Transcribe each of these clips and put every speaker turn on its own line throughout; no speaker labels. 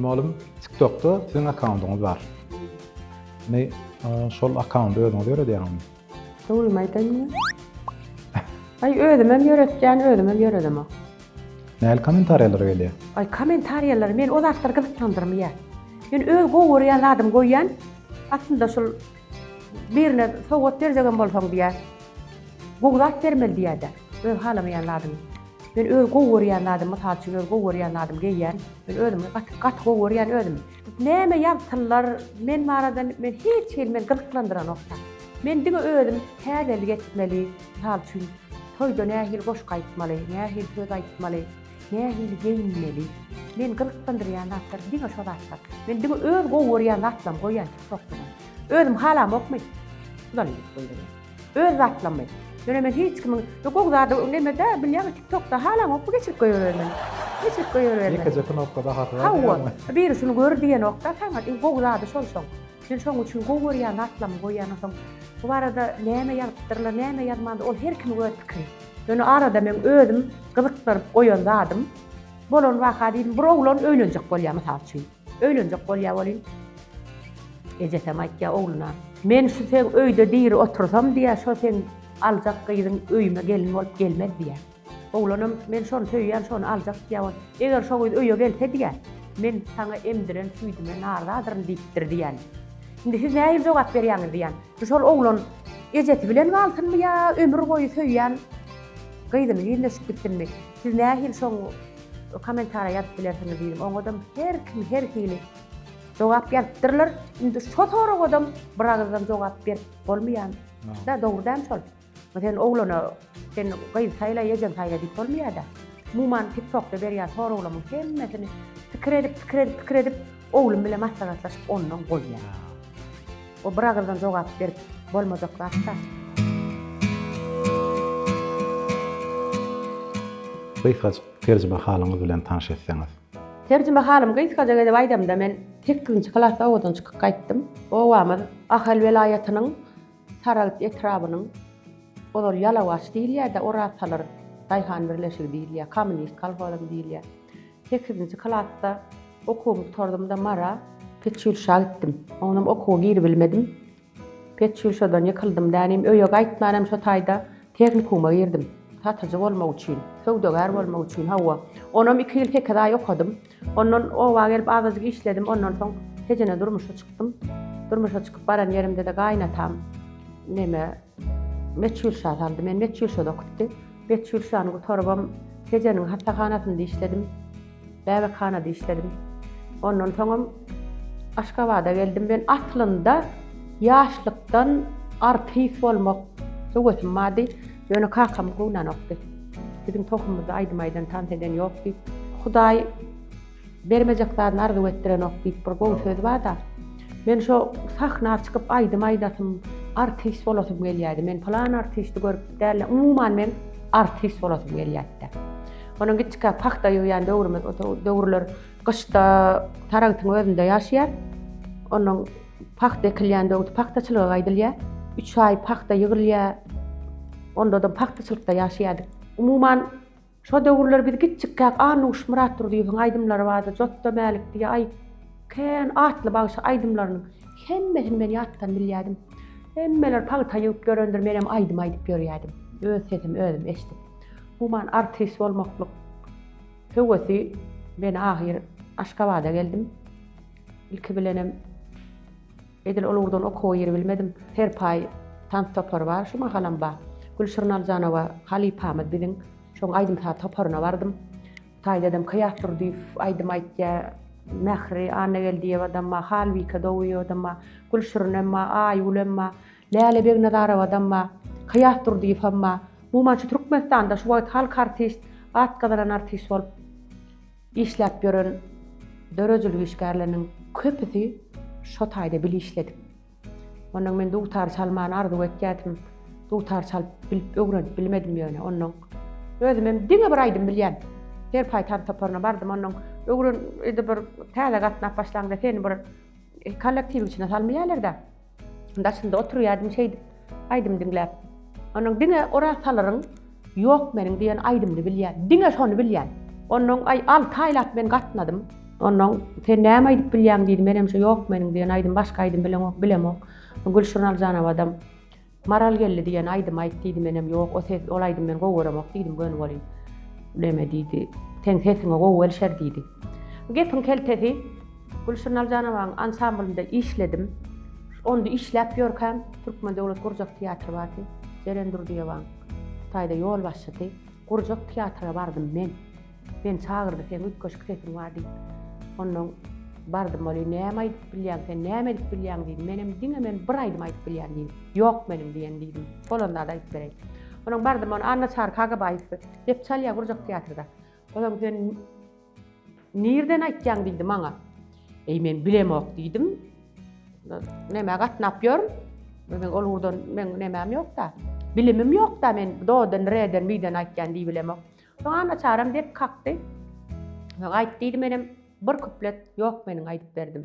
Malum TikTok'da sizin akkauntyňyz bar. Ne şol akkaunty özüňiz ýöredýäňizmi? Dogrymy aýdaýynmy?
Aý özüm hem ýöretýän, özüm hem ýöredemok. Näl
kommentariýalar gelýär? Aý kommentariýalar
men o zatlar gyzyklandyrmaýar. Men öz gowy görýän zadymy goýýan. Aslynda şol Birine sowgat berjegem bolsaň diýýär. Gowy zat bermeli diýýärler. Öz halamaýan zadymy. Men öz gowy görýän zadym, mysal üçin öz gowy görýän zadymy geýýän. Men özümi gaty, gaty gowy görýän özümi. Näme ýazsynlar men barada men hiç hili meni gyzyklandyranokda. Men diňe özüm täzelik etmeli, mysal üçin toýda nähili goşgy aýtmaly, nähili söz aýtmaly. Nähili geýinmeli? Meni gyzyklandyrýan zatlar diňe şo zatlar. Men diňe öz gowy görýän zatlarymy goýýan TikTokda. Özüm halamokmy? Şular edip goýberýän. Öz zatlarymy. Ýöne men hiç kimiň bu gowy zady nemede bilýäňmi TikTokda halamokmy geçirip goýbermegini. Geçirip goýbermegini. Ýekeje knopka
bahasy bar diýýäňmi? Hawa. Biri
şuny gör diýenok-da, saňa iň gowy zady şol-şoň. Sen şoň üçin gowy görýän zatlaryňy goýýansoň, bu barada näme ýazypdyrlar, näme ýazmandyr, ol her kimiň öz pikiri. Ýöne arada meň özüm gyzykdyryp goýan zadym bolan waka diýdim, bir oglan öýlenjek bolýar, mysal üçin, öýlenjek bolýar welin, ejesem aýtýar ogluna, Men şu seň öýde diri otursam, diýýär, şo seň aljak gyzyň öýüme gelin bolup gelmez, diýýär. Oglanam men şony söýýän şony aljak diýýän eger şo gyz öýe gelse diýýä men saňa emdiren süýdüme narzadyryn diýipdir diýýän indi siz nähili jogap berýäňiz diýýän indi şol oglan ejesi bilen galsynmy ýa ömür boýy söýýän gyzyny ýüzleşip gitsinmi siz nähili şoň komentariýa ýazyp bilersiňiz diýdim oňadam her kim her hili jogap ýazypdyrlar indi şo soragadam biragyzdan jogap berip bolmaýan dogry däl şol. Sen oglana sen gyz saýla ejeň saýla diýip bolmaýada. Muman tik tokda berýän soraglamyň hemmesini pikir edip pikir edip pikir edip oglum bilen maslahatlaşyp ondan goýýan. O bir agyzdan jogap berip bolmajak zat da. Gysgajyk
terjime halyňyz bilen tanş etseňiz. Terjime halym
gysgajyk edip aýdamda men sekizinji klasda owadan çykyp gaýtdym. Obamyz Ahal welaýatynyň Saragt etrabynyň, ozal Ýalawaç diýilýärdi, orasalar daýhan birleşigi diýilýär, kommunist kolhozam diýilýär. Sekizinji klasda okuwymy gutardym-da Mara. Petýulşa gitdim. Oňam okuwa giribilmedim. Petýulşadan ýykyldym dänim, öýe gaýtmanam şo taýda tehnikuma girdim. Satyjy bolmak üçin, söwdagär bolmak üçin, hawa. Onam iki ýyl sekiz aý okadym. Ondan oba gelip azajyk işledim, ondan soň tejene durmuşa çykdym. Durmuşa çykyp baran ýerimde-de gaýynatam neme Meçhulşa saldy, meni Meçhulşada okutdy. Meçhulşany gutarybam tejeniň hassahanasynda işledim, bäbekhanada işledim. Ondan soňam Aşgabada geldim. Men aslynda ýaşlykdan artist bolmak höwesim bardy. Ýöne kakam kowunanokdy. Biziň tohumymyzda aýdym aýdan, tans eden ýok diýip. Hudaý bermejek zadyny arzuw etdirenok diýip bir gowy söz bar-da. Men şo sahna çykyp aýdym aýdasym, artist bolasym gelýärdi. Men pylan artisti görüp däl-de, umuman men artist bolasym gelýärdi. Onuň giçkä pagta ýygýan döwrümiz, o döwürler gyşda Saragtyň özünde ýaşaýar. Onuň Pagta ekilýän böwet pagtaçylyga gaýdylýar. Üç aý pagta ýygrylýar. Onda-da pagtaçylykda ýaşaýardyk. Umuman, şo döwürler biz kiçjikkäk Annuş Myratdurdyýewiň aýdymlary bardy, Jotda Mälik diýýä, Aý, kän atly bagşy aýdymlarynyň hemmesini men ýatdan bilýärdim. Hemmeler pagta ýygyp ýörendir, menem aýdym aýdyp ýörýärdim. Öz sesimi özüm eşidip. Umuman, artist bolmaklyk höwesi meni ahyr Aşgabada geldim. Ilki bilenem edil ol ugurdan okuwa giribilmedim. Serpaý tans topary bar, şu mahalam bar. Gülşirin Aljanowa halypamyz biziň. Şoň aýdym-saz toparyna bardym. Taýdadam Kyýat Durdyýew aýdym aýtýar. Mähri Annageldiýewadam bar, Halbike Dowiýewadam bar, Gülşirinem bar, Aýgülem bar, Läle Begnazarowam bar, Kyýat Durdyýewem bar. Umuman şu Türkmenistanda şu wagt halk artist, at gazanan artist bolup. Işläp ýören döredijilik işgärleriniň köpüsi şo taýda bil işledik. Ondan men dutar çalmany arzuw etýärdim. Dutar çalyp bilip öwrenip bilmedim ýöne ondan. Özüm hem diňe bir aýdym bilýän. Serpaý tans toparyna bardym ondan. Öwren indi bir täze gatnap başlaňda seni bir kollektiwiň içine salmaýarlar-da. Daşynda oturýardym şeýdip aýdym diňläp. Onuň diňe oraz salaryň Ýok meniň diýen aýdymyny bilýän. Diňe şony bilýän. Onuň aý alty aýlap men gatnadym. Onuň sen näme aýdyp bilýäň diýdi. Menem şu Ýok meniň diýen aýdym başga aýdym bileňok, bilemok. Gülşirin Aljanowam Maral geldi diýen aýdymy aýt diýdi. Menem ýok, o ses, ol aýdymy men gowy göremok diýdim. Göni bolýyn. Neme diýdi. Seň sesiňe gowy gelişer diýdi. Gepiň keltesi. Gülşirin Aljanowaň ansamblynda işledim. Onda işläp ýörkäm, Türkmen döwlet gurjak teatry bardy. Jeren Durdyýewaň Hytaýda ýolbaşçysy. Gurjak teatra bardym men. Meni çagyrdy, Seň üýtgeşik sesiň bar diýip. Onnoň bardym welin, Näme aýdyp bilýäň sen, näme edip bilýäň diýdi. Menem diňe men bir aýdym aýdyp bilýän diýdim. Ýok meniň diýen diýdim. Bolanda-da aýdyp bereýin. Onuň bardym, ony Annaçary Kakabaýew dep çalýar gurjak teatrda. Olam sen. Nirden aýtýaň diýdi maňa. Eý men bilemok diýdim. Nämä gatnap ýörün? Men ol urdan men nämäm ýokda. Bilimim ýokda men dodan reden birden aýtýan diýip bilemok. Soň ana çaram dek kakdy. Aýt diýdi menem bir kuplet ýok meniň aýdyp berdim.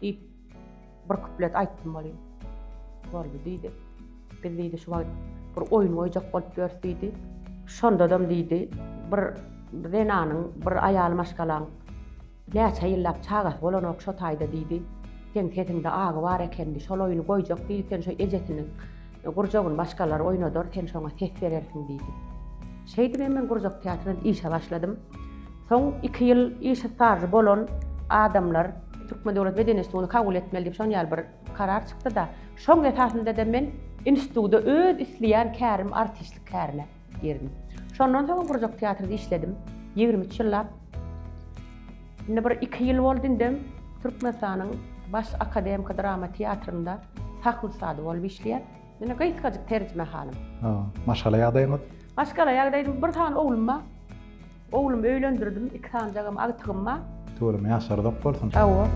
Diýip, bir kuplet aýtdym welin, boldy diýdi. Biz diýdi, şu wagt bir oýun goýjak bolup ýörüs diýdi. Şondadam diýdi, bir zenanyň, bir aýal maşgalaň näçe ýyllap çagasy bolanok şo taýda diýdi. Seň sesiňde agy bar ekeni, şol oýny goýjak diýdi, sen şo ejesiniň Gurjagyny başgalar oýnadar, sen şoňa ses berersiň diýdi. Şeýdip hem men gurjak teatrynda işe başladym. Soň iki ýyl işe stažy bolan adamlar Türkmen döwlet beden institutyny kabul etmeli diýip şonýaly bir karar çykdy-da, şoň esasynda-da men institutda öz isleýän kärim artistlik kärine. girdim. Şondan soň gurjak teatrda işledim. Ýigrimi üç ýyllap. Indi bir iki ýyl boldy indem Türkmenistanyň Baş akademiki drama teatrynda sahna ussady bolup işleýän. Ýene gysgajyk terjimehanym. Maşgala
ýagdaýyňyz? Maşgala ýagdaýym
bir sany oglum bar. Oglumy öýlendirdim, iki sanjagam agtygym bar. Töwreme ýaşarzak
bolsun. Hawa.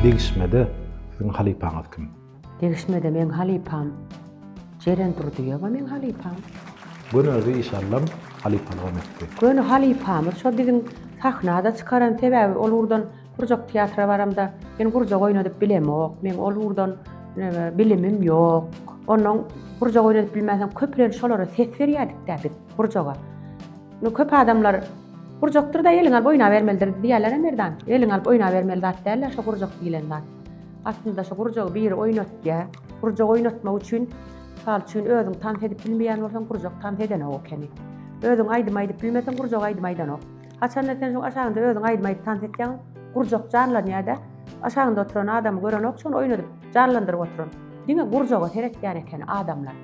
Degişmede siziň halypaňyz kim? Degişmede meň
halypam Jeren Durdyýewa meň halypam. Göni özi
iş allam halypalygam etdi. Göni halypamyz
şo biziň sahnada çykaran sebäbi ol urdan Gurjak teatra baramda, men gurjak oýnadyp bilemok, meň ol ugurdan bilimim ýok. Onnoň gurjak oýnadyp bilmänsoň, köplenç şolara ses berýärdik-dä biz, gurjaga. Indi köp adamlar Gurjakdyr-da, eliňi alyp oýnabermelidir diýýärler-ä Merdan. Eliňi alyp oýnabermeli zat däl-ä şu gurjak diýlen zat. Aslynda şu gurjagy biri oýnatýar. Gurjak oýnatmak üçin, mysal üçin, özüň tans edip bilmeýän bolsaň, gurjak tans edenok ekeni. Özüň aýdym aýdyp bilmeseň, gurjak aýdym aýdanok. Haçanda sen şuň aşagynda özüň aýdym aýdyp tans etýäň, gurjak janlanýada, aşagynda oturan adamy görenok şony oýnadyp janlandyryp oturan. Diňe gurjaga seretýän eken adamlar.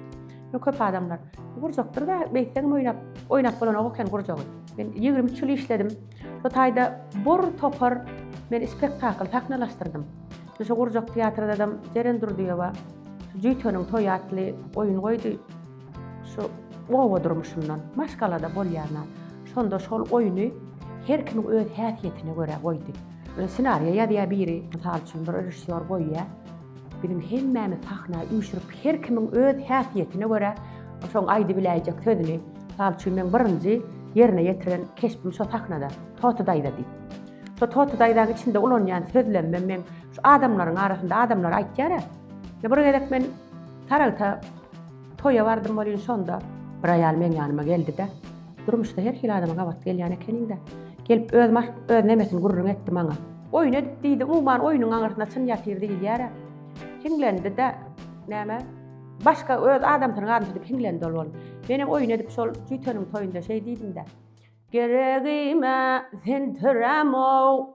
Şo köp adamlar gurjakdyr-da beýtseňem oýnap, oýnap bolanok eken gurjagy. Men ýigrimi üç ýyl işledim. Şo taýda bir topar men spektakl sahnalaşdyrdym. Şo gurjak teatrydadam Jeren Durdyýewa Jüýteniň toýy atly oýun goýdy. Şu oba durmuşyndan maşgalada bolýana, şonda şol oýny her kim öz häsiýetine görä goýdy. Ssenariýa ýazýar biri, mysal üçin, bir režissýor goýýar. Biziň hemmämiz sahna üýşürip, her kimiň öz häsiýetine görä şoň aýdybiläýjek sözüni, mysal üçin, meň birinji ýerine ýetiren keşbim şo sahnada, Toty daýza diýip. Şo Toty daýzanyň içinde ulanýan sözlemim meň şu adamlaryň arasynda adamlar aýtýar-a. Bir gezek men Saragta toýa bardym welin şonda bir aýal meň ýanyma geldi-de, Durmuşda her hili adama gabat gelýän ekeniň-dä. Gelip öz maş, öz nemesini gürrüň etdi maňa. Oýun edip diýdi, umuman oýnuň aňyrsyna çyn ýatyr diýilýär-ä. Hiňlendi-de, näme, başga öz adamsynyň adyny şeýdip hiňlendi ol onuň. Menem oýun edip şol jüýteniň toýunda şeý diýdim-de. Geregim-ä sen töräm-ow,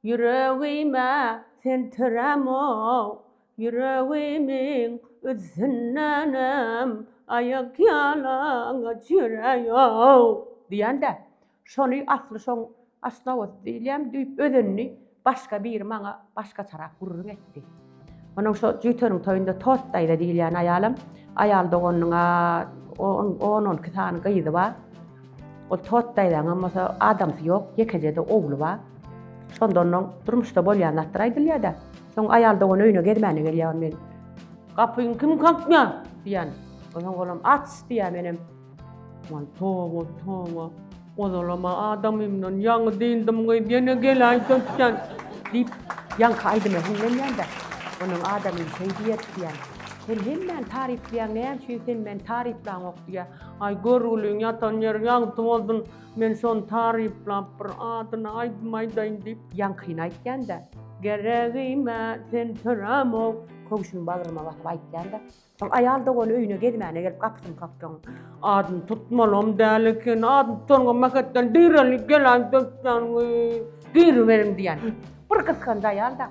Ýüregime sen tiräm-ow, Ýüregimiň üstündenem Aýakýalaňaç ýöräý-ow! Diýen-de, şony asly şoň Aşgabat diýilýän diýip özenini başga biri maňa başgaçarak gürrüň etdi. Onuň şo jüýteriň toýunda Tost daýza diýilýän aýalam, aýal doganynyň-a on, on-on iki sany gyzy bar. Ol Tost daýzaňam bolsa adamsy ýok, ýekeje-de ogly bar. Şonda onnoň durmuşda bolýan zatlar aýdylýar-da. Soň aýal dogan öýüne gezmäne gelýär, ony men, Gapyňy kim kakýar? diýýän. Onsoň olam, Aç! diýýär, menem, Waý toba toba, ozalam-a adamymdan ýaňy dyndymy gyz, ýene geläý söýtjän! diýip, ýaňky aýdyma hiňlenýän-de, onuň adamym şeýdi ýetýän. Sen hemmäni taryplaýaň, näme üçin sen meni taryplaňok diýýä. Aý görgüliň ýatan ýeri ýagty bolsun, men şony taryplap bir adyna aýdym aýdaýyn diýip, ýaňkyny aýtýan-da, Geregim-ä sen törämok! köwşüni bagryma basyp aýtýan-da, Soň aýal dogany öýüne gezmäne gelip gapysyny kakdyň. Adyny tutmalam däl eken, adyny tutanyňam mähetden direlik gelen dökden girmegin diýen. Bir gysganç aýal-da.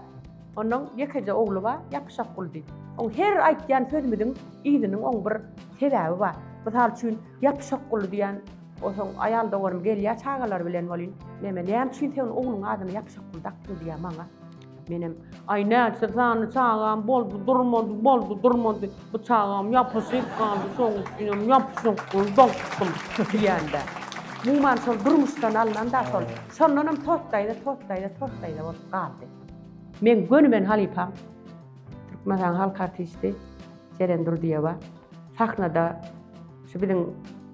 Onuň ýekeje ogly bar, ýapyşak Guldy. Oň her aýtýan sözümiziň yzynyň oň bir sebäbi bar. Mysal üçin, ýapyşak Guldy diýen, o soň aýal doganym gelýär çagalary bilen welin, Meme, näme üçin sen ogluň adyny ýapyşak Gul dakdyň diýýär maňa. Menem, ay näçe sany çagam boldy, durmady, boldy, durmady. Bu çagam yapyşyp galdy, şoň üçinem yapyşyp dur, dokdum, diýende. Muman şol durmuşdan alnan da şol. Şondan hem tostayda, tostayda, tostayda bolup galdy. Men gönümen halypam, Türkmenistan halk artisti Jeren Durdyýewa. Sahnada şu biziň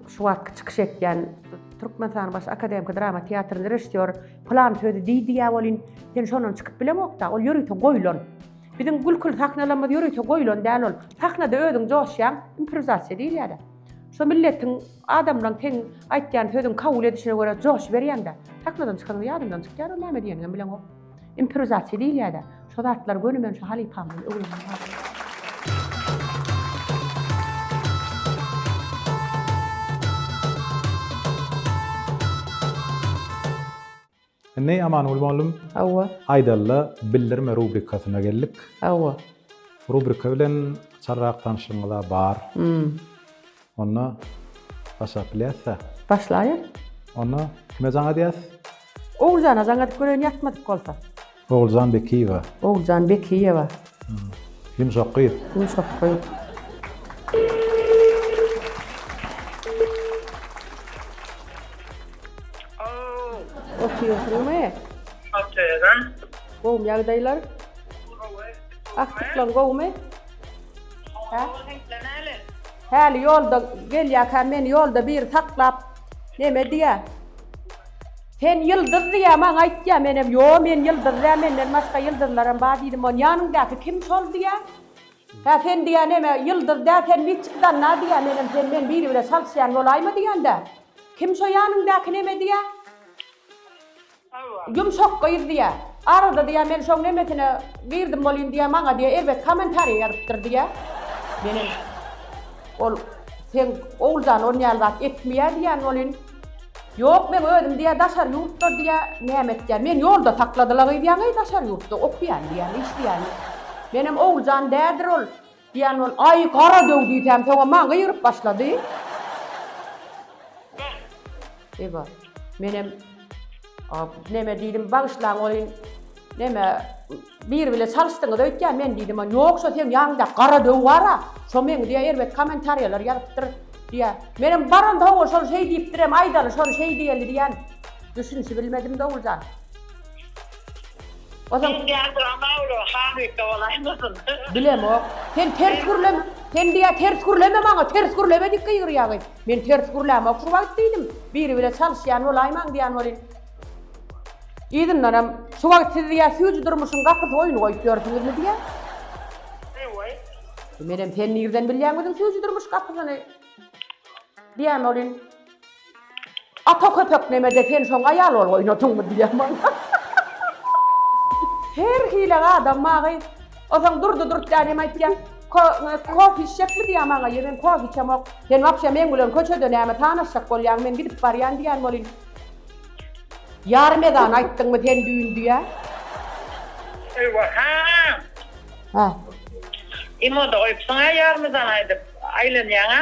şu wagtky çykyş etýän Türkmenistanyň baş akademiki drama teatrynyň režissýory Plan sözi diý diýä bolin, sen şondan çykyp bileňokda, ol ýörite goýlan. Biziň gülkül sahnalarymyz ýörite goýlan däl ol. Sahnada özüň joşýaň, improwizasiýa diýilýär-ä. Şo milletiň, adamlaň seň aýtýan sözüň kabul edişine görä joşuberýäň-dä. Sahnadan çykanyň ýadyňdan çykýar ol näme diýenigem bileňok. Improwizasiýa diýilýär-dä. Şu zatlar göni men şu halypamdan öwrendim.
Indi Amanguly mugallym, hawa, aýdalla bildirme rubrikasyna geldik. Hawa.
Rubrika
bilen çarrak tanşygyňyz bar. Hmm. Onda başlap bilýäs-dä. Başlaýa.
Onda
kime jaň edýäs? Oguljana
jaň edip göreýin ýatmadyk bolsa. Oguljan Bekiýewa.
Oguljan Bekiýewa.
Ýumşak
gyz. Ýumşak gyz. Oturýarsyňmy?
Oturýan.
Gowmy
ýagdaýlar? Gowy. Agtyklaň gowumy? Häli ýolda gelýärkä meni ýolda biri saklap neme diýýär. Sen ýyldyz diýýär maňa aýtýar menem ýo men ýyldyz däl menden başga ýyldyzlaram bar diýdim ony ýanyňdaky kim şol diýýär. Hä sen diýýär neme ýyldyz däl sen niçik zanna diýýär menem sen men biri bile çalyşýan bolaýma diýende kim şo ýanyňdaky neme diýýär. Ýumşak gyz diýýä. Arada diýýä men şoň nemesine girdim bolýyn diýýä maňa diýýä erbet kommentariýa ýazypdyr diýýä. Menem ol seň Oguljan on ýaly zat etmiýä diýýän bolýyn. Ýok meň özüm diýýä daşary ýurtda diýýä näme etýän. Meni ýolda sakladylagyzýaňeý daşary ýurtda okýan diýýän işleýän. Menem Oguljan dädir ol Diýen ol, Aý, gara döw diýsäm, soňam maňa gygyryp başlady. Eba, menem, A, neme diýdim, bagyşlaň welin, neme, biri bile çalyşdyňyz öýtýän, men diýdim, Ýok, şo seň ýanyňda gara döw bar-a, şo meň diýä erbet kommentariýalar ýazypdyr, diýä. Menem baranda oňa şol şeý diýipdirem, aýdaly şony şeý diýeli diýen. Düşünişibilmedim, Dowuljan. Ozal. Ses ýadyr Amawlo halypa bolaýmasyn. Bilemok. Sen ters gürleme. Sen diýýä ters gürleme maňa, ters gürleme diýip gygyrýa gyz. Men ters gürlämok şu wagt diýdim. Biri bile çalyşýan bolaýmaň diýän welin. Yzyndanam, şu wagt siz diýýä süýji durmuşyň gapysy oýny goýup ýörsüňizmi diýýä. Eýway. Menem sen nirden bilýäň biziň süýji durmuş gapysyny? Diýýän welin. Ata köpek nemede sen şoň aýal bolup oýnadyňmy diýýän bolsa. Her hili adam maňa O soň Durdy Durtýan hem aýtýar. Ko kofe içjekmi diýýär maňa ýöne men kofe içemok. Sen wapşe meň bilen köçede näme tanaşjak bolýaň men gidip barýan diýýän bolýn. Ýarym ezan aýtdyňmy sen düýn diýýär. Eýwa ha. Hä. Imoda goýupsyň-a ýarym
ezan aýdyp aýlanýaň-a.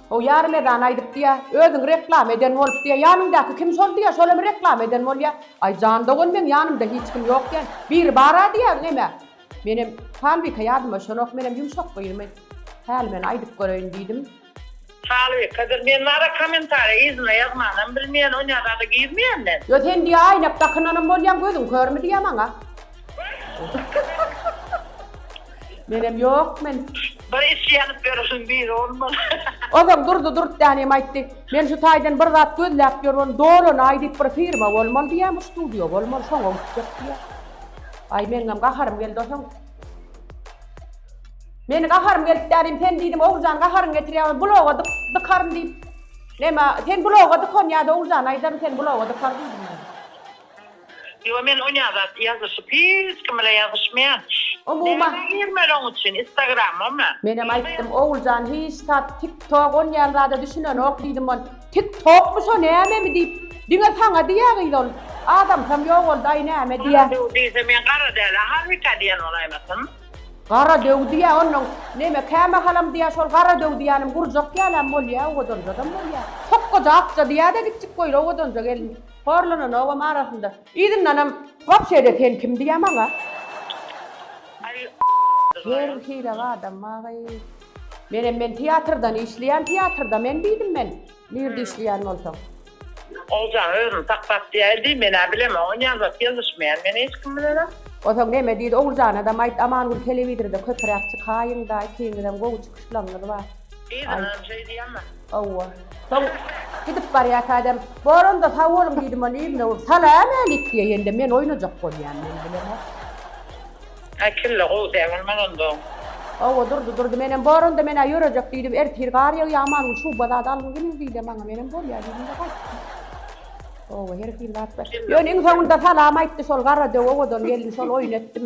O ýarym
ezan aýdyp diýýä, özüňi reklama eden bolup diýýä, ýanyňdaky kim şol diýýä, şolamy reklama eden bolýa? Aý, jan dogan, meň ýanymda hiç kim ýok diýýän. Biri bar-a diýýäň emä. Menem, Halbike ýadyma düşenok, menem ýumşak gyzmy? Häli men aýdyp göreýin diýdim.
Halbikedir, men bar-a kommentariýa yzyna ýazmanam bilmeýän, onýa zada girmeýän men. Ýo sen diýýä aýnak
dakynanam bolýaň, gözüň körmi diýýä maňa? Menem yok men. Bir iş ýanyp
ýörüň biri olmaly. Ozal durdy
durtdänem aýtdy. Men şu taýdan bir zat gözläp ýörün. Dolanaý diýip bir firma bolmaly diýýän bu studio bolmaly şoňa gitjek diýýän. Aý meňňem gaharym geldi osaň. Meni gaharym gelip dädim sen diýdim Oguljan gaharyň getirýär bloga dyk dykaryn diýip. Neme sen bloga dykan ýa-da Oguljan aýdaryn sen bloga dykar diýdim.
Ýo men onýa zat ýazyşyp hiç kim bilen ýazyşmaýan. Umuman. Näme
girmeli oň üçin
instagramamy. Menem aýtdym Oguljan
hiç zat tik tok onýan zada düşünenok diýdim on tik tokmy şo nämemi diýip diňe saňa diýýä gyz ol adamsam ýogaldy aý näme diýýä. Gara döw diýse men gara
dälä halbika diýen bolaýmasyn. Gara döw
diýýä onnoň neme kämahalam diýýä şol gara döw diýýänim gurjak ýalam bolýä owadanja adam bolýä sokgaja akja diýýä de gitjik goýra owadanja gelin. Horlananogam arasynda. Yzyndanam, Wapşe-de sen kim diýýä maňa? Her hili adam bagy. Menem men teatrdan işleýän, teatrda men diýdim men. Nirde işleýän bolsaň? Ogjan
özüni saklap diýäýdi diý, men-ä bilemen, ony ýazasy ýazyşmaýan men hiç kim bilenem. Onsoň näme diýdi,
Oguljanadam aýt, Amangül telewizorda köpüräk çykaýyň-da, ikiňizem gowy çykyşlaryňyz bar. Yzyndanam şeý
diýýä-mä. Hawa.
Soň gidip barýarka adam, Boranda sag boluň diýdim ol ýüzüne urup, Salam älik diýende men oýnajak bolýan men bilen. Aý kelle gowy däl bolmaz
onda. Hawa Durdy
Durdy menem Boranda menä ýörejek diýdim ertir gar ýagýar aman gün şuba zat algyn geliň diýdi maňa menem bolýa diýdimde gaýtdym. Hawa her hili zat bar. Ýöne iň soňunda salam aýtdy şol gara döw owadan gelin şol oýun etdim.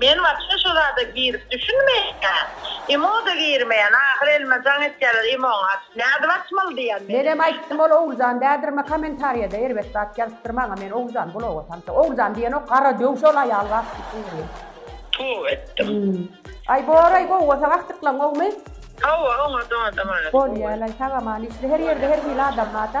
Men wapşe şu zada girip düşünmeýän. Imo-da girmeýän. Ahyr elime jaň etýärler Imo-ň aç. Nädip açmaly diýýän men. Menem aýtdym ol
Oguljan dädirme komentarýada erbet zat ýazypdyr maňa men Oguljan bloga tanşa Oguljan diýenok gara döw şol aýal wapşe şuňňurýa. Tüw etdim.
Aý
boraý gowy bolsa gahjyklaň gowmy. Hawa oňa
dada mana. Bolýalaý sagaman
işle her ýerde her hili adam barda.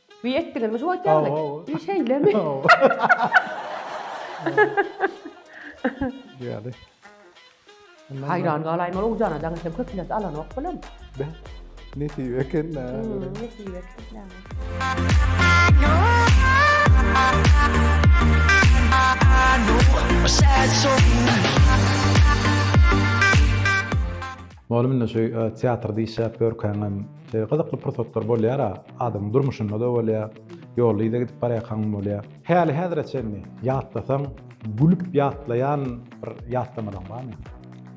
Duý etdiňizmi şu wagt ýaly? Hawa. Şeýlemi?
Ýaly.
Haýran galaýma ol Ogujana jaň etsem köp ilat alanok bilen. Beh.
Nesip eken nä. Nesip
eken nä.
Mugallym indi şu teatrda işläp ýörkäňem şeýle gyzykly pursatlar bolýar-a, adamyň durmuşynda-da bolýar, ýolda yza gidip barýarkaňam bolýar. Häli-häzire çenli ýatlasaň, gülüp ýatlaýan bir ýatlamalaň barmy?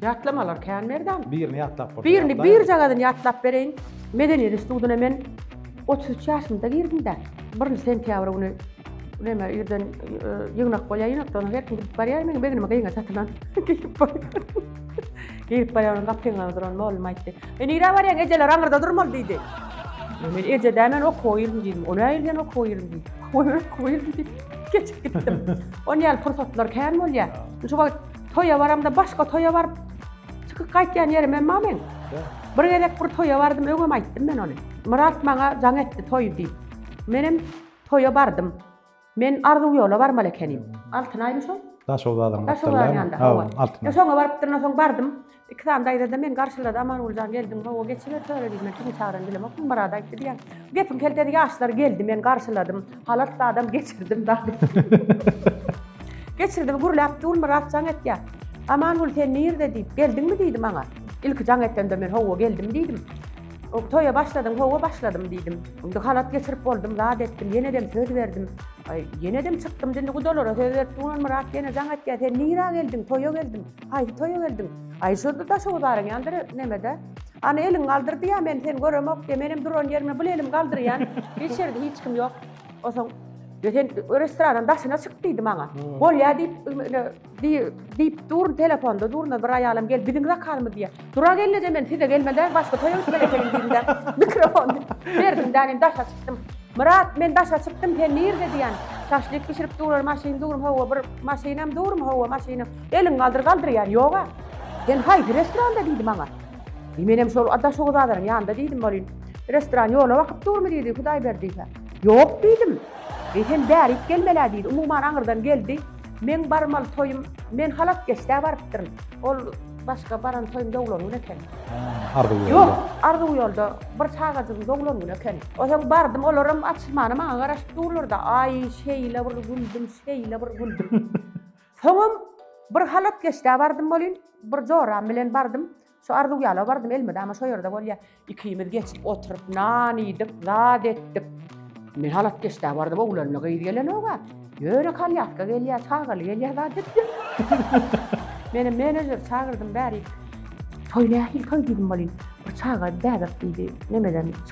Ýatlamalar
kän Merdan. Birini ýatlap bolsa ýatlaýaly. Birini
birjagadan
ýatlap bereýin. Medeniýet institutyna men otuz üç ýaşymda girdim-dä. Birinji sentýabr güni näme irden ýygnak bolýar, ýygnakdan soň her kim gidip barýar, meniň begnime gyňa çatylan. Girip barýaryn, gapyňda duran mugallym aýtdy. E nirä barýaň, ejeler aňyrda durmaly diýdi. Men eje däl, men okuwa girdim diýdim. O nähili diýen okuwa girdim diýdi. Oý men okuwa girdim diýip, geçip gitdim. Ony ýaly pursatlar kän bolýar. Şu wagt toýa baramda başga toýa baryp, çykyp gaýtýan ýerim hem bar meň. Bir gezek bir toýa bardym, öňem aýtdym men ony. Myrat maňa jaň etdi toý diýip. Menem toýa bardym. Men Arzuw ýola barmaly ekenim. Altynaýmy şol? Daşoguz bazarynyň
gapdalynda. Hawa,
Altynaý. Şoňa
baryp durna soň
bardym. Iki sany daýza-da meni garşylady. Amangulyjan geldiň hawa, geçiber töre diýdi. Men kimiň çagyranyny bilemokdym. Myrat aýtdy diýýän. Gepiň keltesi ýaşlar geldi, men garşyladym. Halas zadam geçirdim da. Geçirdim, gürläp dur Myrat jaň etýär. Amangül sen nirde diýip, geldiňmi diýdi maňa. Ilki jaň etende men hawa geldim diýdim. O, Toýa başladyň, Hawa, başladym, diýdim. Indi halat geçirip boldum, zat etdim, ýenedem söz berdim. Aý, ýenedem çykdym, indi gudalara söz berip durman Myrat ýene jaň etýär, Sen nirä geldiň? Toýa geldim. Haýsy toýa geldiň? Aý, şurada Daşoguzaryň ýanynda nemede. Ana, eliňi galdyr diýýär, men seni göremok diýýär. Menem duran ýerimden bul elimi galdyrýan. Hiç ýerde hiç kim ýok. Onsoň, Sen restorandan daşyna çyk diýdi maňa. Bolýar diýip, Diýip dur, telefonda durna bir aýalam gelip, biziň zakazymyz diýýär. Dura gelneje men size gelmeli däl, başga toýa gitmeli ekeniň diýdim-de, mikrofony berdim-de, men daşa çykdym. Myrat, men daşa çykdym, sen nirde diýýän. Şaşlyk bişirip durar, maşyn durmy, hawa, bir maşynam durmy, hawa, maşynam. Eliňi galdyr, galdyr diýýär, ýog-a. Sen haýsy restoranda diýdi maňa. Diý, menem şol Daşoguzadanyň ýanynda diýdim welin, restoran ýola bakyp durmy diýdi, Hudaýberdi-hä. Ýok diýdim. Diý, sen bärik gelmel-ä diýdi, umuman aňyrdan geldi. Meň barmaly toýum men halas geçdä barypdyryn. Ol başga baran toýum doglan gün eken. Arzuw ýolda. Ýok,
arzuw ýolda
bir çagajygyň doglan güni eken. Onsoň bardym, olaram açylmana maňa garaşyp durlar-da. Aý, şeýle bir güldüm, şeýle bir güldüm. Soňam bir halas geçdä bardym welin, bir joram bilen bardym. Şu arzuw ýala bardym elmede ama şo ýerde bolýa. Ikimiz geçip oturyp nan iýdik, zat etdik. Men halat geçdä bardym oglanly gyz gelenoga. Ýöne kalýatka gelýä, çagaly gelýä zat etýä. Meni menejer çagyrdym bäri. Toý nähili toý diýdim bolin. Bir çaga bäbek diýdi. Nemeden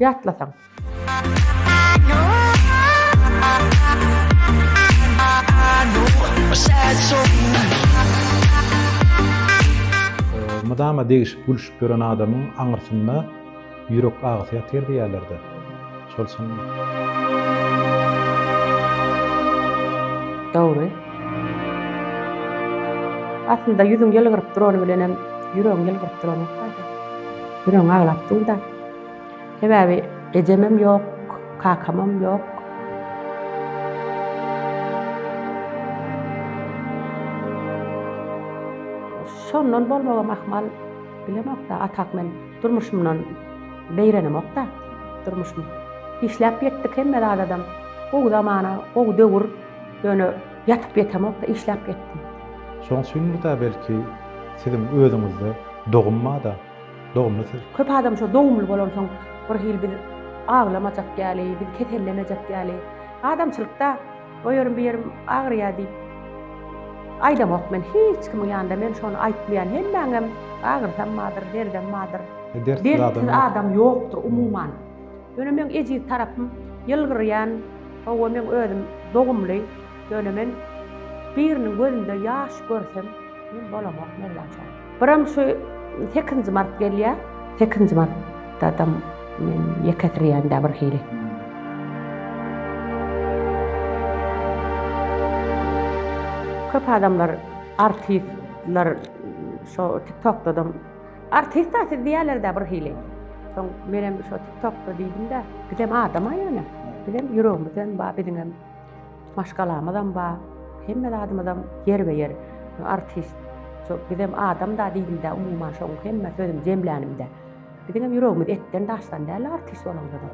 Ýatlasaň.
Mydama degişip gülşüp ýören adamyň aňyrsynda ýürek agysy ýatyr diýýärlerde. Şol çynmy?
Dogry. Aslynda ýüzüň ýylgyryp durany bilenem ýüregiň ýylgyryp duranok-da. Biröň aglap dur-da. Sebäbi ejemem ýok, kakamam ýok. Şondan bolmagam ahmal, bilemok-da, atak men durmuşymdan beýrenemok-da. Durmuşym işläp ýetdik hemme zadadam. Gowy zamana, gowy döwür. Ýöne. Ýatyp ýetemok-da, işläp ýetdim. Şoň üçindir-dä
belki, siziň özüňizde dogum bar-da, dogumly siz. Köp adam şo dogumly
bolansoň, birhili biz aglamajak ýaly, biz kesellemejek ýaly, adamçylykda o ýerim, bu ýerim agyrýar diýip aýdamok men, hiç kimiň ýanynda men şony aýtmaýan, hemmäňem agyrsam bardyr, derdem bardyr. Dertsiz adam ýokdur umuman. Ýöne meň ejiz tarapym ýylgyrýan, hawa meň özüm dogumly, ýöne men biriniň gözünde ýaş görsem, men bolamok Mergen çaga. Biram şu sekizinji mart gelýä, sekizinji martdadam men ýekesirýän-dä bir hili. Köp adamlar artistler şo tiktokdadam. Artista siz diýerlerdä bir hili. Soň menem şo TikTokda diýdim-de, bizem adama ýöne. Bizem ýüregimizem bar, biziňem maşgalamyzam bar. Hemme zadymyzam ýerbe-ýer. Artist şo bizem adam-da diýdim-de, umuman şoň hemme sözümi jemlänimde. Biziňem ýüregimiz etden daşdan däl artist bolanymyza.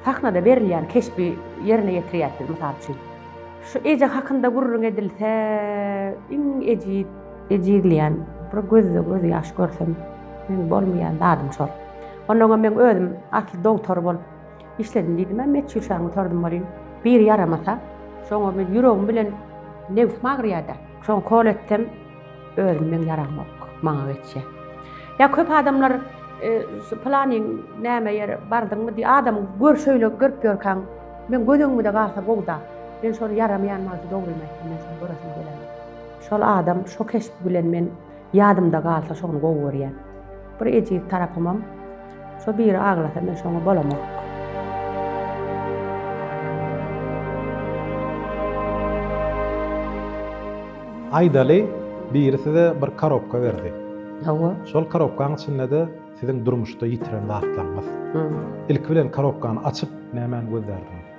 Sahnada berilýän keşbi ýerine ýetirýäs biz, mysal üçin. Şu eje hakynda gürrüň edilse, iň ejiz. Ejizleýän, bir gözde göz ýaş görsem, meň bolmaýan zadym şol. Onnoňam meň özüm asly dogtor bolup işledim diýdim-ä, Metjur şaň otardym welin, biri ýaramasa, şoňa men ýüregim bilen nebsim agyrýar-da, şoňa ukol etsem, özüm meň ýaramok, maňa geçýär. Ýa köp adamlar şu pylanyň näme ýere bardyňmy diýip, adam gör şeýle görüp ýörkäň, meň göz öňümde galsa gowy-da, men şony ýaramaýan wagty dogrymy aýtsam, men şony göresim gelenok. Şol adam şo keşbi bilen men ýadymda galsa şony gowy görýän. Bir ejiz tarapymam şo biri aglasa men şoňa bolamok.
Aýdaly biri size bir karobka berdi. Hawa. Şol
karobkaň
içinde-de siziň durmuşda ýitiren zatlaryňyz. Ilki bilen karobkany açyp nämäni gözlärdiňiz?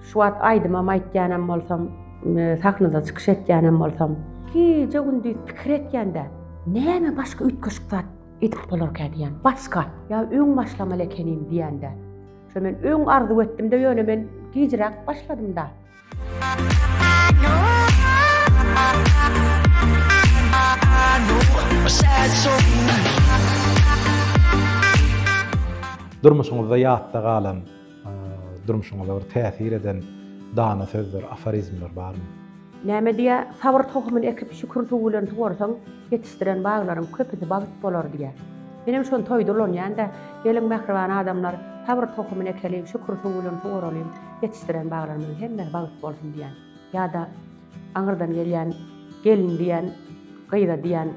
Şu wagt aýdymam aýtýanam bolsam, sahnada çykyş etýänem bolsam, gije-gündiz pikir etýän-de, näme başga üýtgeşik zat edip bolarkä diýýän, başga, ýa öň başlamaly ekenim diýýän-de. Şo men öň arzuw etdim-de, ýöne men gijiräk başladym-da.
Durmuşyňyzda ýatda galan. Durmuşyňyza bir täsir eden dana sözler, aforizmler barmy? Näme diýýär,
Sabyr tohumyny ekip, şükür suwy bilen suwarsaň, ýetişdiren baglaryň köpüsi bagt bolar diýýär. Menem şony toýda ulanýan-da, Geliň, mähriban adamlar, sabyr tohumyny ekeliň, şükür suwy bilen sugaralyň, ýetişdiren baglarymyzyň hemmesi bagt bolsun diýýän. Ýa-da aňyrdan gelýän gelin diýen gyza diýen,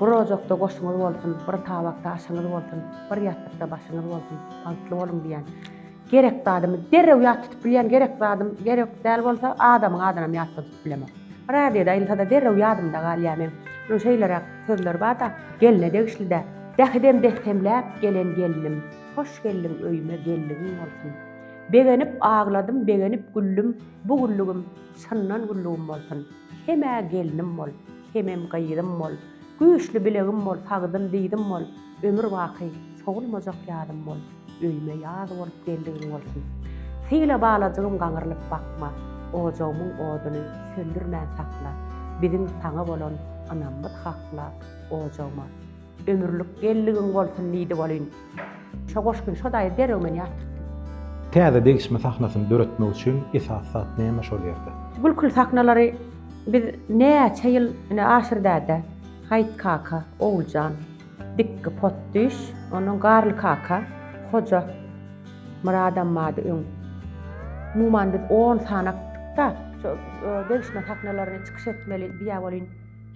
Bir ojakda goşuňyz bolsun, bir tabakda aşyňyz bolsun, bir ýassykda başyňyz bolsun, bagtly boluň diýen. Gerek zadymy derrew ýat tutup bilýän, gerek zadym gerek däl bolsa, adamyň adynam ýatda tutup bilemok. Radioda aýylsa-da derrew ýadymda galýar meň. Munuň şeýleräk sözleri bar-da, gelne degişli däl. Dähidem bessemläp gelen gelnim, Hoş geldiň öýüme geldigiň bolsun. Begenip agladym, begenip güldüm, Bu günlügim çyndan günlügim bolsun, Hemä gelnim bol, hemem gyzym bol, Güýçli bilegim bol, sagdyn dyzym bol, Ömür baky sowulmajak ýadym bol, Öýüme ýaz bolup geldigiň bolsun. Syla balajygym gaňrylyp bakma, Ojagymyň oduny söndürmän sakla, Biziň saňa bolan ynamymyz hakla, Ojagyma. Ömürlik gelligiň bolsun diýdi welin, şo goşgyny şo daýy derrew men ýatyrtdym. Täze
degişme sahnasyny döretmek üçin esasy zat näme şol ýerde? Gülküli sahnalary
biz näçe ýyl ine Aşyr däde, Haýt kaka, Oguljan, Dikgi potdüş, ondan Garly kaka, Hoja Myrat ammady öň. Umuman biz on sany aýtdyk-da, şo degişme sahnalaryny çykyş etmeli diýä welin,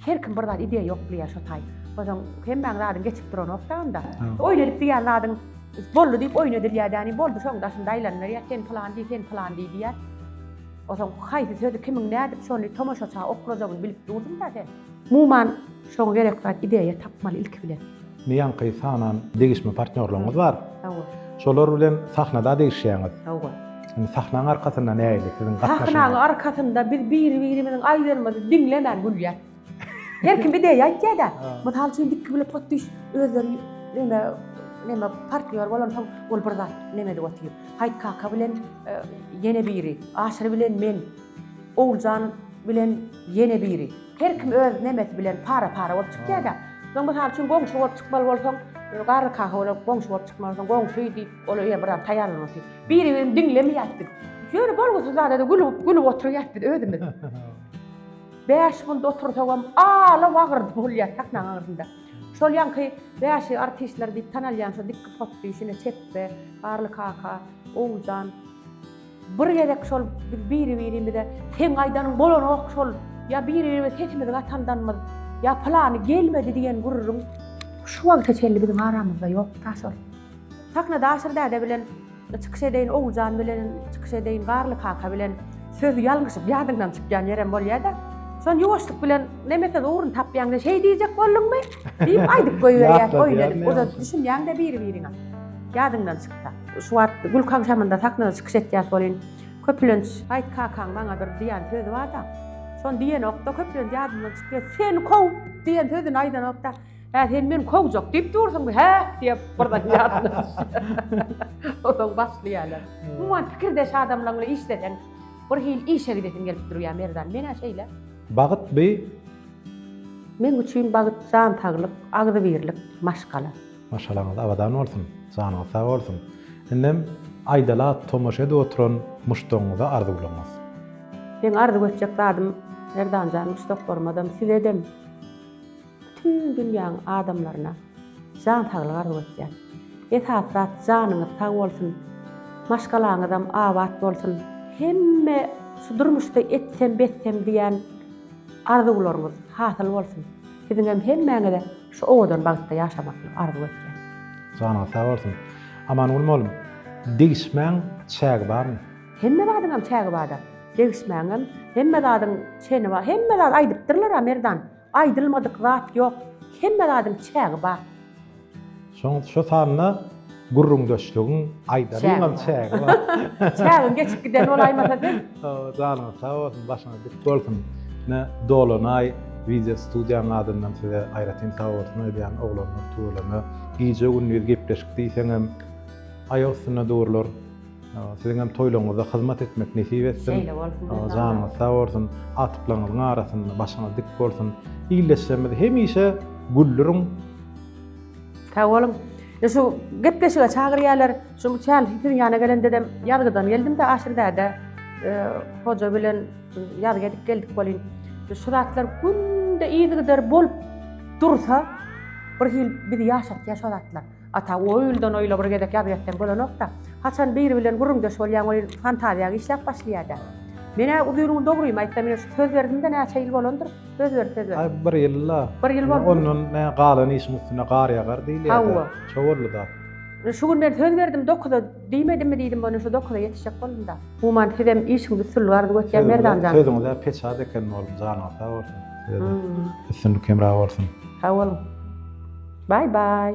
Her kim bir zat ideýa ýoklýar şo taý. Bozaň hemmäň zadyň geçip duranokda onda. Oýun edip diýýän zadyň boldy diýip oýun edilýädäni boldy şoň daşynda aýlanylýar sen pylan diý sen pylan diý diýýär. Ozaň haýsy sözi kimiň nädip şony tomaşaça okrajagyny bilip durdyňda sen. Muman şoň gerek zat ideýa tapmaly ilki bilen. Indi ýaňky sanan
degişme partnýorlaryňyz bar. Hawa. Şolar
bilen
sahnada degişýäňiz. Hawa. Indi
sahnaň
arkasynda nähili siziň gatnaşygyňyz? Sahnaň arkasynda
biz biri-birimiziň aýdanymy diňlemän gülýäs. Her kim ideýa aýtýar-da. Mysal üçin dikki bile pot düş özleri ýöne näme partnýor bolansoň ol bir zat näme edip otyr. Haýt kaka bilen ýene biri, Aşyr bilen men, Oguljan bilen ýene biri. Her kim öz nemesi bilen para-para bolup çykýar-da. Soň mysal üçin goňşy bolup çykmaly bolsaň, garry kaka bilen goňşy bolup çykmalysyň, goňşy diýip, ol öýe biraz taýýarlanmaly diýip. Biri-birini diňlemeýäs biz. Ýöne bolgusyz zada-da gülüp, gülüp oturýas biz özümiz. Bäş minut otursagam ala-wagyrdy bolýar sahnaň agzynda. Şol ýaňky bäşi artistler diýip tanalýan şo dikki potdyşine Çepbe, Garly kaka, Owjan, Bir gezek şol biz biri-birimize seň aýdanyň bolanok şol, ýa biri-birimize sesimizi gatandanmyz, ýa pylany gelmedi diýen gürrüň şu wagta çenli biziň aramyzda ýok daş ol. Sahna Daşyr däde bilen çykyş edeýin, Oguljan bilen çykyş edeýin, Garly kaka bilen söz ýalňyşyp ýadyňdan çykýan ýerem bolýa-da, şony ýuwaşlyk bilen neme söz ugruny tapýaňda şeý diýjek bolduňmy? diýip aýdyp goýberýär oýun edip, o-da düşünýäň-dä biri-biriňe ýadyňdan çyksa. Şu wagt gülki agşamynda sahnada çykyş etýäs welin, köplenç Gaýt kakaň maňa bir diýen sözi bar-da, şony diýenok-da, köplenç ýadymdan çykyp ýör. Seni kow! diýen sözüni aýdanok-da, Hä, sen meni kowjak diýip dursuňmy, hä? diýip, birden ýadyma düşýär. Onsoň başlaýarlar. Umuman, pikirdeş adamlaň bilen işleseň, bir hili işe gidesiň gelip durýar, Merdan. Men-ä şeýle. Bagt by? Meň üçin bagt jan saglyk, agzybirlik, maşgala. Maşgalaňyz abadan
bolsun, janyňyz sag bolsun. Indem aýdala tomaşa edip oturan muşdagyňyza arzuwlaryňyz.
Meň arzuw etjek zadym
Merdanjan
muşdaklarymazam sizedem bütin dünýäň adamlaryna jan saglygy arzuw etýän. Esasy zat janyňyz sag bolsun, maşgalaňyzam abat bolsun. Hemme şu durmuşda etsem betsem diýän arzuwlaryňyz hasyl bolsun. Siziňem hemmäňize Şu owadan bagtda ýaşamagyny arzuw etýän. Janyňyz sag
bolsun. Amangül molum, degişmäň çägi barmy? Hemme zadyňam
çägi bada. Degişmäňem hemme zadyň çeni bar. Hemme zat aýdypdyrlara Merdan. Aýdylmadyk zat ýok. Hemme zadyň çägi bar. Şoň
şo sanda Gürrüňdeşligiň aýdaryňam çägi bar. Çägiň geçip
giden bolaýmasa sen? Janyňyz sag
bolsun, başyňyz dik bolsun. Ine, Dolanaý wideo studiýanyň adyndan size aýratyn sag bolsun aýdýan oglanlar tüweleme. Gije-gündiz gepleşik diýseňem aýak üstünde durlar. Siziňem toýlaryňyzda hyzmat etmek nesip etsin. Şeýle bolsun. Janyňyz
sag bolsun.
Agtyklaryňyzyň arasynda başyňyz dik bolsun. Ildeşlerimizi hemişe güldüriň.
Sag boluň. E şu gepleşige çagyrýarlar. Şu misal siziň ýana gelen dedem ýazgydan geldim-de Aşyrdäde e, hoja bilen ýazgy edip geldik bolýn. Şu zatlar günde yzygider bolup dursa bir hil bizi ýaşatýar şu zatlar. Ata o ýyldan o ýyla bir gezek ýazgy etseň bolanok-da. Haçan biri bilen gürrüňdeş bolýaň ol fantaziýa işläp başlaýar-da. Men-ä uzyn gün dogrymy aýtsam, şu söz berdim-de näçe ýyl bolandyr. Söz ber, söz ber. Aý, bir ýyl-la.
Bir ýyl boldumy? Ondan
nä, galan
işiň üstüne gar ýagar diýilýär-dä. Hawa. Şo-boldy
zat.
Şu gün men söz
berdim, dokuza diýmedimmi diýdim, ony şu dokuza ýetişjek boldum-da. Human, sizem işiňizi üstünlik arzuw etýän, Merdan jan. Sözüňiz-ä peçat eken,
oglum, janyňyz sag bolsun. Size-de üstünlik hemra bolsun. Sag boluň.
Baý-baý.